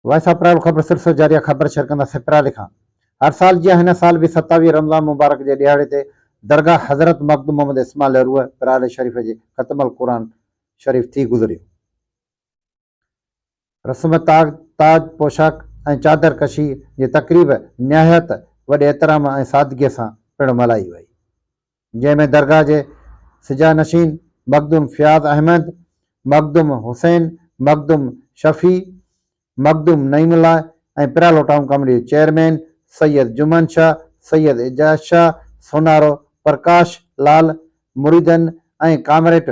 Voice of private خبر سرسو جاريه خبر شيئر ڪندا سين پرالي کان هر سال جيان هن سال به ستاويهه رمضان مبارڪ جي ڏهاڙي تي درگاهه حضرت مخدوم محمد اسماعيل لهروء پرالي شريف جي ختم القرآن شريف ٿي گذريو رسم تاج تاج پوشاڪ ۽ چادر ڪشي جي تقريب نهايت وڏي احترام ۽ سادگي سان پڻ ملهائي وئي جنهن ۾ درگاهه جي سجا نشين مخدوم فياض احمد، مخدوم حسين، مخدوم شفيع، مخدوم نعيم الله ۽ پرالو ٽائون ڪاميٽي جي چيئرمين سيد جمعن شاهه، سيد اعجاز شاهه، سونارو پرڪاش لال، مريدن ۽ ڪامريٽ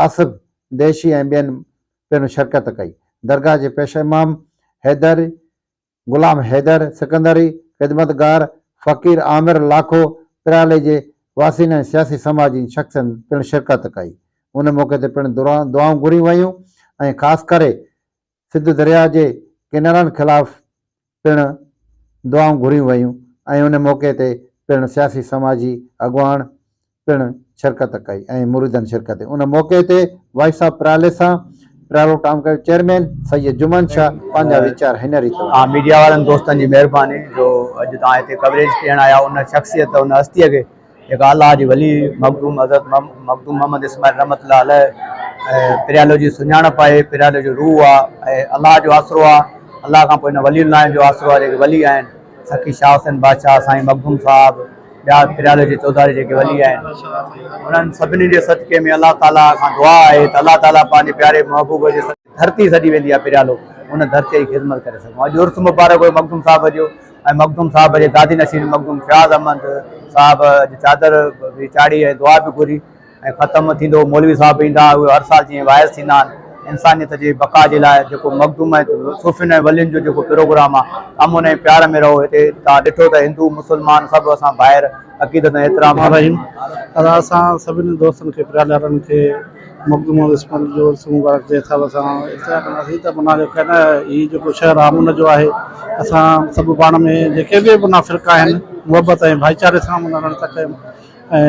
آصف ديشي ۽ ٻين پڻ شرڪت ڪئي. درگاهه جي پيش امام حيدر غلام حيدر سڪندري، خدمتگار فقير عامر لاکو، پريالي جي واسين ۽ سياسي سماجين شخصن پڻ شرڪت ڪئي. ان موقعي تي پڻ دعائون گهريون ويون ۽ خاص ڪري سنڌ درياء جي ڪينالن خلاف پڻ دعائون گهريون ويون ۽ ان موقعي تي پڻ سياسي سماجي اڳواڻ پڻ شرڪت ڪئي ۽ مريدن شرڪت ڪئي ان موقعي تي وائس آف پراليسان پرالو ٽائون ڪيو چيئرمين سيد جمعن شاھ پنهنجا ويچار هن ريت ٻڌايا. آ ميڊيا وارن دوستن جي مهرباني جو اڄ توهان هتي ڪوريج ڏيڻ آيا ان شخصيت ان هستي کي جيڪا الله جي ولي مخدوم حضرت مخدوم محمد اسماعيل رحمة الله عليه ۽ پريالو جي سڃاڻپ آهي پريالو جو روح آ ۽ الله جو آسرو آ الله کان پوء ان ولين الله جو آسرو آ جيڪي ولي آهن سخي شاهه حسين بادشاهه، سائين مخدوم صاحب، ٻيا پريالي جي چوڌاري جيڪي ولي آهن انهن سڀني جي صدقي ۾ الله تعاليٰ کان دعا آهي ته الله تعاليٰ پنهنجي پياري محبوب جي صدقي ڌرتي سڏي ويندي آهي پريالو ان ڌرتي جي خدمت ڪري سگهون اڄ عرس مبارڪ هيو مخدوم صاحب جو ۽ مخدوم صاحب جي گادي نشين مخدوم فياض احمد صاحب اڄ چادر به چاڙهي ۽ دعا به گهري ۽ ختم ٿيندو. مولوي صاحب ايندا اهي هر سال جيئن واعظ ٿيندا آهن انسانيت جي بقا جي لاء جيڪو مخدوم ۽ صوفين ۽ ولين جو جيڪو پروگرام آهي امن ۽ پيار ۾ رهو هتي توهان ڏٺو ته هندو مسلمان سڀ اسان ڀائر عقيدت ۽ احترام سان رهيون. ادا اسان سڀني دوستن کي پريا لارن کي مخدوم ۽ اسماعيل جو عرس مبارڪ جي حساب سان اطلاع ڪنداسين ته منا جو ڪنه هي جيڪو شهر امن جو آهي اسان سڀ پاڻ ۾ جيڪي به منا فرقا آهن محبت ۽ ڀائيچاري سان منا رهڻ ٿا چاهيون ۽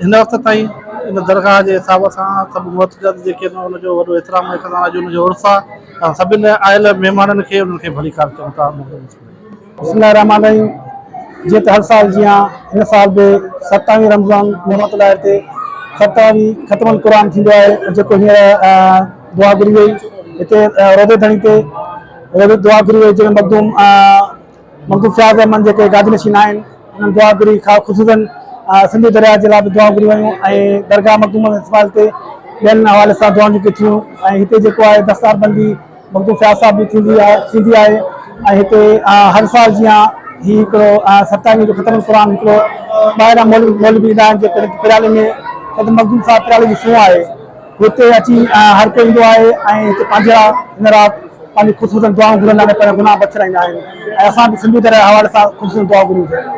هن وقت تائين ان درگاهه جي حساب سان سڀ معتقد جيڪي ان ان جو وڏو احترام ۽ سدا اڄ ان جو عرس آهي سڀن آيل مهمانن کي انهن کي ڀلي ڪار چئون ٿا بسم الله الرحمٰن الرحيم جيئن ته هر سال جيان هن سال به ستاويهه رمضان محمد الهي تي ستاويهه ختم القرآن ٿيندو آهي جيڪو هينئر دعا گهري وئي هتي روضي ڌڻي تي روضي دعا گهري وئي جنهن ۾ مخدوم مخدوم فياض احمد جيڪي گادي نشين آهن انهن دعا گهري خصوصن سنڌو درياء جي لاء به دعائون گهريون ويون ۽ درگاهه مخدوم اسماعيل تي ٻين حوالي سان دعائون جيڪي ٿيون ۽ هتي جيڪو آهي دستار بندي مخدوم فياض صاحب جي ٿيندي آهي ٿيندي آهي ۽ هتي هر سال جيان هي هڪڙو ستائين جو ختم القرآن هڪڙو ٻاهران مولوي مولوي ايندا آهن جيڪڏهن پريالي ۾ مخدوم صاحب پريالي جي سونهن آهي هتي اچي هر ڪو ايندو آهي ۽ هتي پنهنجا هن رات پنهنجي خودسوزن دعائون گهرن ۽ پنهنجا گناهه بخشرائيندا آهن ۽ اسان به سنڌو درياء جي حوالي سان خودسوزن دعائون گهريون ٿا.